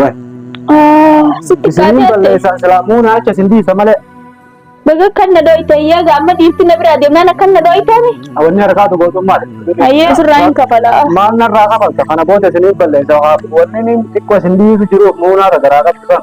Wai. Ah, sitti Isiniin kaatee atte. balleessaa silaa muuna acha isin dhiisa malee. Baga kan na dooyte yaa ga amma dhiifti na biraa deemnaan akkan na dooytaani. Awanni harkaatu gootummaa. Ayyee sirraa hin kafala. Maal narraa kafalta kana booda isiniin balleessaa. Wanni inni xiqqoo isin dhiisu jiruuf muunaa irra garaa qabsisan.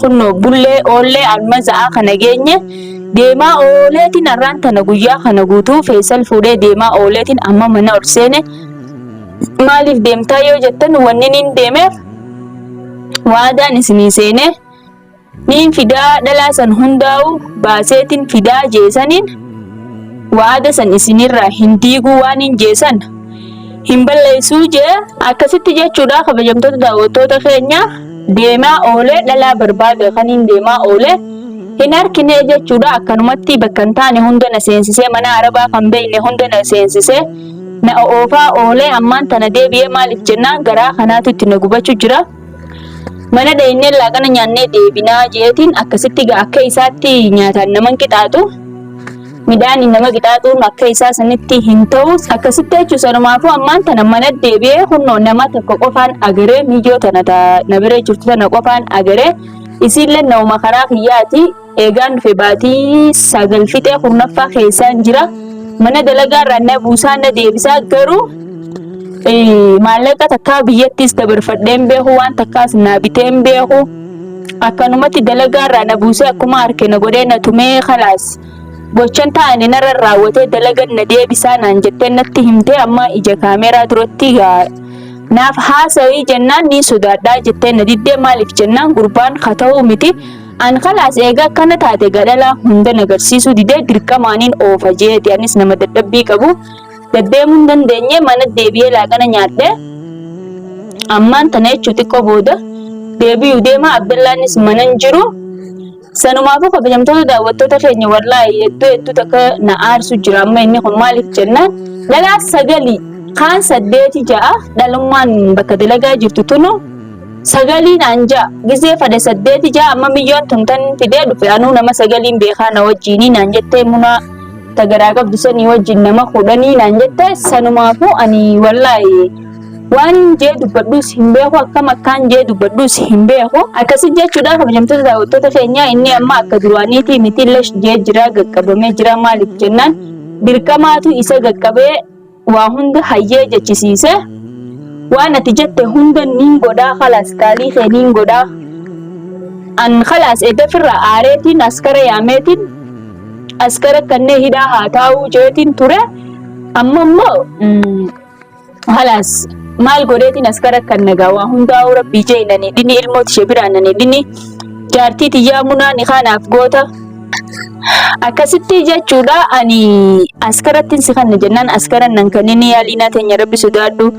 Kunnoo, bullee, oollee, alma za'aa kana geenye. Deemaa ooleetiin arraan tana guyyaa kana guutuu Feesal fuudhee deemaa ooleetiin amma mana ol seene. Maaliif deemtaa yoo jettan wanni niin deemeef waadaan isinii seenee niin fidaa dhalaa san hundaa'u baaseetiin fidaa jeesaniin waada san isinirraa hin diiguu waaniin jeesan hin balleessuu jee akkasitti jechuudha kabajamtoota daawwattoota keenya deemaa oolee dhalaa barbaada kan hin deemaa oolee hin harkinee jechuudha akkanumatti bakka hin taane hunda na seensisee mana arabaa kan beekne hunda na seensisee na oofaa oolee ammaan tana deebi'ee maaliif jennaan garaa kanaatu itti na gubachuu jira. Mana dhayinnee laaqana nyaannee deebinaa jeetiin akkasitti akka isaatti nyaataan naman qixaatu. midhaani nama qixaaxuun akka isaa sanitti hin ta'u akkasitti jechuun sanumaafuu ammaan tana mana deebi'ee kunoo nama tokko qofaan agaree miyyoo tana ta na bira jirtu tana qofaan agaree isiillee nauma karaa kiyyaati eegaan dhufe baatii sagal fixee kurnaffaa keessaan jira mana dalagaa irraa na buusaa na deebisaa garuu eh, maallaqa takkaa biyyattis dabarfadhee hin beeku waan takkaas naa bitee hin beeku akkanumatti dalagaa irraa na buusee akkuma harke na godhee na tumee kalaas Gochan taane narra raawwatee dalagan na deebisaa naan jettee natti himtee amma ija kaameeraa duratti gaa naaf haasawii jennaan ni sodaadhaa jettee na diddee maaliif jennaan gurbaan ka ta'uu miti an kalaas eegaa akkana taate gadhalaa hunda nagarsiisuu didee dirqamaaniin oofa jeeti anis nama dadhabbii qabu daddeemuun dandeenye mana deebi'ee laaqana nyaadhee ammaan tana jechuu xiqqoo booda deebi'uu deemaa abdallaanis manan jiru Sanumaafuu kabajamtoota daawwattoota keenya wallaahi hedduu hedduu takka na aarsu jira amma inni kun maaliif jennaan dhalaa sagalii kaan saddeeti ja'a dhalummaan bakka dalagaa jirtu tunu sagalii naan ja'a gizee fade saddeeti ja'a amma miyyoon tun tan fidee dhufe anuu nama sagaliin beekaa na wajjiinii naan jettee munaa tagaraa qabdu sanii wajjin nama kudhanii naan jette sanumaafuu ani wallaahi Waan jee dubbadhuus hin beeku akkam akkaan jee dubbadhuus hin beeku. Akkasi jechuudhaan kabajamtoota daawwattoota keenyaa inni amma akka duraaniitii miti lesh jee jira gaqqabamee jira maaliif jennaan dirqamaatu isa gaqqabee waa hunda hayyee jechisiise. Waan ati jette hunda niin godhaa kalaas qaalii kee niin godhaa. An kalaas eddafirraa aareetiin askara yaameetiin askara kannee hidhaa haa taa'uu jeetiin ture. Amma immoo Halaas maal godheetiin as gara kan nagaa waa hundaa'uu rabbii jeelanii dhini ilmooti ishee biraananii dhini jaartii tiyyaa munaa ni kaanaaf goota. Akkasitti jechuudha ani askarattiin si kanna jennaan askaran nan kanneen yaaliinaa teenya rabbi sodaadhu.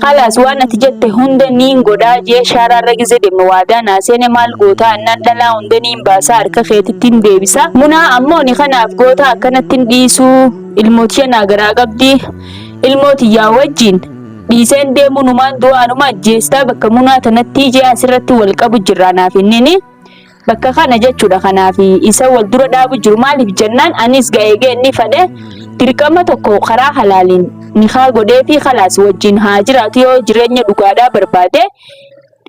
Halaas waan ati jette hunda niin godhaa jee shaaraarra gizee deemne waadaa naa seene maal gootaa annaan dhalaa hunda niin baasaa harka keetittiin deebisa. Munaa ammoo ni kanaaf goota akkanattiin dhiisuu ilmootiya naa garaa qabdi. ilmoo tiyyaa wajjiin dhiiseen deemuu numaan du'aa numa ajjeestaa bakka munaa tanattii jee asirratti wal qabu jirra anaaf innini bakka kana jechuudha kanaaf isa wal dura dhaabu jiru maaliif jennaan anis ga'eegee inni fadhe dirqama tokko karaa halaaliin nikaa godhee fi kalaas wajjin haa jiraatu yoo jireenya dhugaadhaa barbaade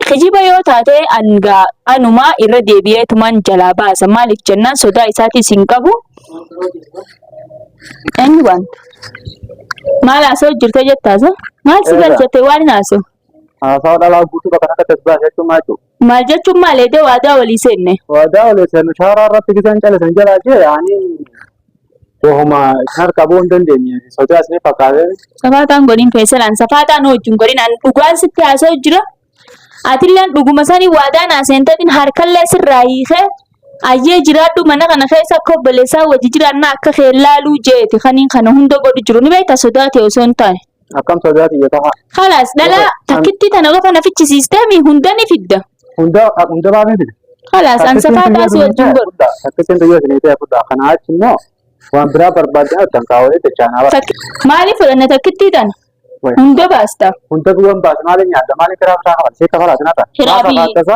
Kijiba yoo taate angaa anumaa irra deebi'eetumaan jalaa baasa. Maaliif jennaan sodaa isaatiis hin qabu. Eenyu baanta? Maal haasa'u jirte jettaasa? Maal si Eegaa. galchate waan hin haasa'u? Haasawa dhalaa guutuu bakka kanatti as baasee jechuun maal jechuudha? Maal jechuun maal eedee waadaa walii seenne? Waadaa olee seenu shaaraa irratti gisan calisan jalaa jee yaanii Wahuma isin harkaa ba'uu hin dandeenye sodaa isin fakkaatee. Safaaxaan godhin feeselaan safaaxaa nu wajjin godhin an dhugaan sitti haasa'u jira. Atilleen dhuguma sanii waadaan haaseenteetiin harkallee sirraa hiikee ayyee jiraadhu mana kana keessa akka obboleessaa wajji jiraannaa akka kee laaluu jeeti kaniin kana hunda godhu jiru ni beekta sodaate osoo hin taane. Akkam sodaa tiyya tahaa. Kalaas dhala Gosa- an- takkitti tana qofa na fichisiistee mi hunda ni fidda. Hunda hunda maaf hin fide? Kalaas an safaa taasii wajjin godhu. Takkisiin biyya isinii ta'e fudhaa. Kanaa achi immoo waan biraa barbaaddan argan kaawwee jechaanaa bara. Takki- Maaliif fudhanna takkitti tana? Wayii. Hunda baasta. Hunda duwwan baas maaliin nyaadda maaliin kiraa bitaa kafala seekka falaa sinata. Kiraa Maaf biyya. afaatasa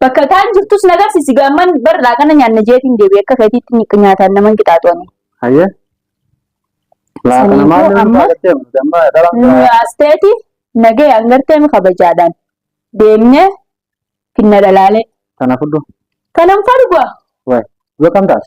Bakka kaan jirtus na garsiisi gaamman bar laaqana nyaanna jeetiin deebi'e akka keetiitti ni nyaataan naman qixaaxu ani. Hayyee. Laaqana Saniifuu maal yoo amma baagatee amma damma dhalaan Nu biraa yaasteeti nagee hangarteemi kabajaadhaan deemnee finna dhalaalee. kana fudhu. Kanan fargua. Waay. Yoo kam taate?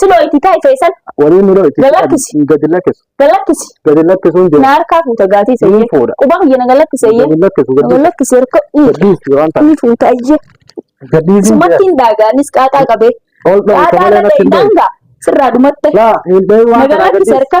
Siloo itti taa'i feesan. Warii miroo itti Gad lakkisi. taa'an gadi lakkisu. Gad lakkisi. Gadi lakkisuun Na jira. harkaa fuuta gaatii Ni seeyyee. fuudha. Qubaa kiyya na gad lakkisi eeyyee. Gadi lakkisu Na gad gadi. lakkisi harka. Gadhiisi waan ta'eef. Ni fuuta eeyyee. Gadhiisi jira. Sumatti hin daagaanis qaaxaa qabee. Ol dha'u Qaaxaa sagalee irratti hin dha'u. daangaa sirraa dhumatte. Laa hin dha'u waan Nagaa ta'eef. lakkisi harka.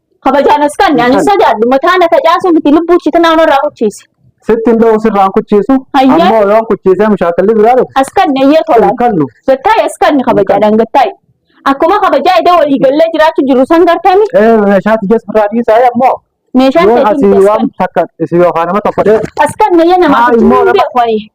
Kabajaan as kan ani sodaadhu mataa na facaasuu miti lubbuu itti naannoo irraa kuchiise. Sitti hin dha'u sirraan kuchiisu. Hayyee. Ammoo yoon kuchiisee mushaakalli biraa dhufu. As kan eeyyee tola. Hin kallu. Gattaa'e as kan kabajaadhaan gattaa'e. Akkuma kabajaa idee walii gallee jiraachuu jiru san gartami. Ee meeshaa tiyyees biraa dhiisaa ammoo. Meeshaan Yoon teetiin asii waan takka isin yookaan nama tokko dee As kan eeyyee namaa Haa, kuchiisuu immoo hin nama- beeku ani.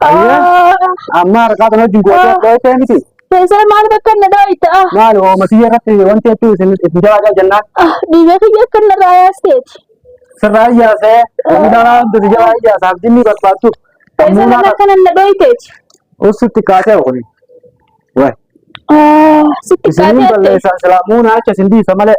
Ayyee amma harkaa kana wajjin gootee dhooytee miti. Keessaa maal bakka na dhooyta? Maal hoomatiyya irratti wanti hedduu isin isin jalaajaa jennaan Dhiiga kiyya akka na raayaasteeti. sirraa iyyaasee wanni dhalaa hundi si jalaa iyyaasaaf jinnii barbaaddu. Keessaa maal akka na dhooyteeti? Ussitti kaatee kuni. Waay. Sitti Isin kaatee balleessaa silaa muunaa acha isin dhiisa malee.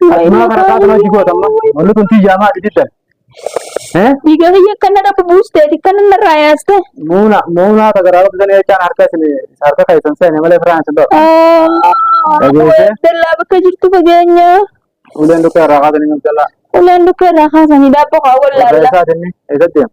Maa kana kaata maji goota amma. Wanni kun tiyyaa maati diddan. Eh? Dhiiga kiyya akka na dhabu buusteeti kan inni irraa yaaste. Muuna muunaa tagaraa qabdan jechaan harka isin harka keessan seene malee firaan isin dho'a. Dhageessee? Dallaa bakka jirtu fageenya. Uleen dukkaa irraa kaatanii mabdallaa. Uleen dukka irraa kaasanii daabboo haa Irraa wallaalla. isaa dinni eessatti deema.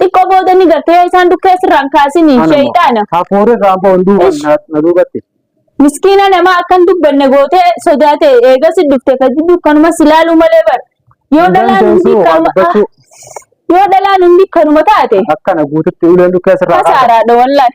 xiqqoo booda ni garte yoo isaan dukkee sirraan kaasini sheeyxaana Hafuurri irraa ammoo hunduu Ish. na na duubatti. miskiina namaa akkan dubbanne gootee sodaate eegas dhufte fajji dukkanuma si laaluu malee bar yoo dhalaan hundi Dandeessuu waan kanuma dubbachuu yoo dhalaan hundi kanuma taate Akkana guututti uleen dukkee sirraa kaasa. kasaaraadha wallahi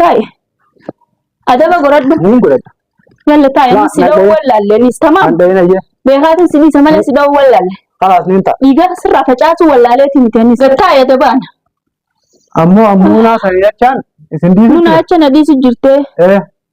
Taa'e. Adaba godhadhu. Niin godhadha. Yalla taa'e amma si dha'uu wallaalle nis tamaam. An dha'ina jee. Beekaatiin si dhiisa malee si dha'uu wallaalle. Kalaas niin ta'a. Dhiigaa sirraa facaasuu wallaaleetii miti anis. Taa'e adabaan. Ammoo ammoo naa kan jechaan isin diisu. Nuna acha na dhiisu jirtee. Eh.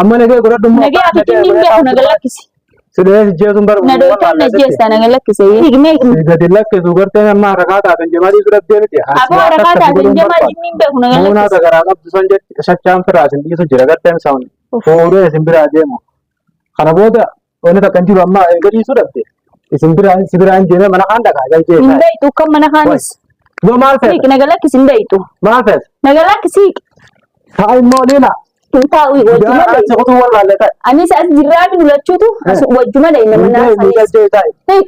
Amma nagee godhadhu immoo. Nagee ati kinni hin beeku naga lakkisi. Sidhee sijjeesuun barbaadu. Na dooftaan na jeessaa naga lakkise. Hiiknee hiiknee. Gadi lakkisu garteen amma harakaa taatan jamalii bira deemiti. Aboo harakaa taatan jamaa jinni hin beeku naga Muunaa lakkise. sagaraa qabdu san jetti shachaan firaa isin dhiisu jira garteen saawun. Fuudhee isin biraa deemu. Kana booda Wanni takka hin jiru amma erga dhiisuu dhabde. Isin bira si bira hin deemee mana kaan dhagaa jalqee Hin isaa. beektu kan mana kaanis. Yoo maal Siiq feete? naga lakkisi hin beektu. Maal feete? Naga lakkisi Haa immoo leela. hin taa'u Yaa wajjuma achi deemu. kutuu wallaalle ta'e. Anis as jirraa fi lulachuutu as Eh. wajjuma deema Hin mana deemu kaanis. jalqee ta'e. Siiq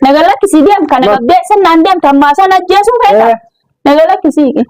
naga lakkisi deem kana Ma- qabdee sannaan deemta ammaa sana ajjeesuun feeta. Eh. Naga lakkisi.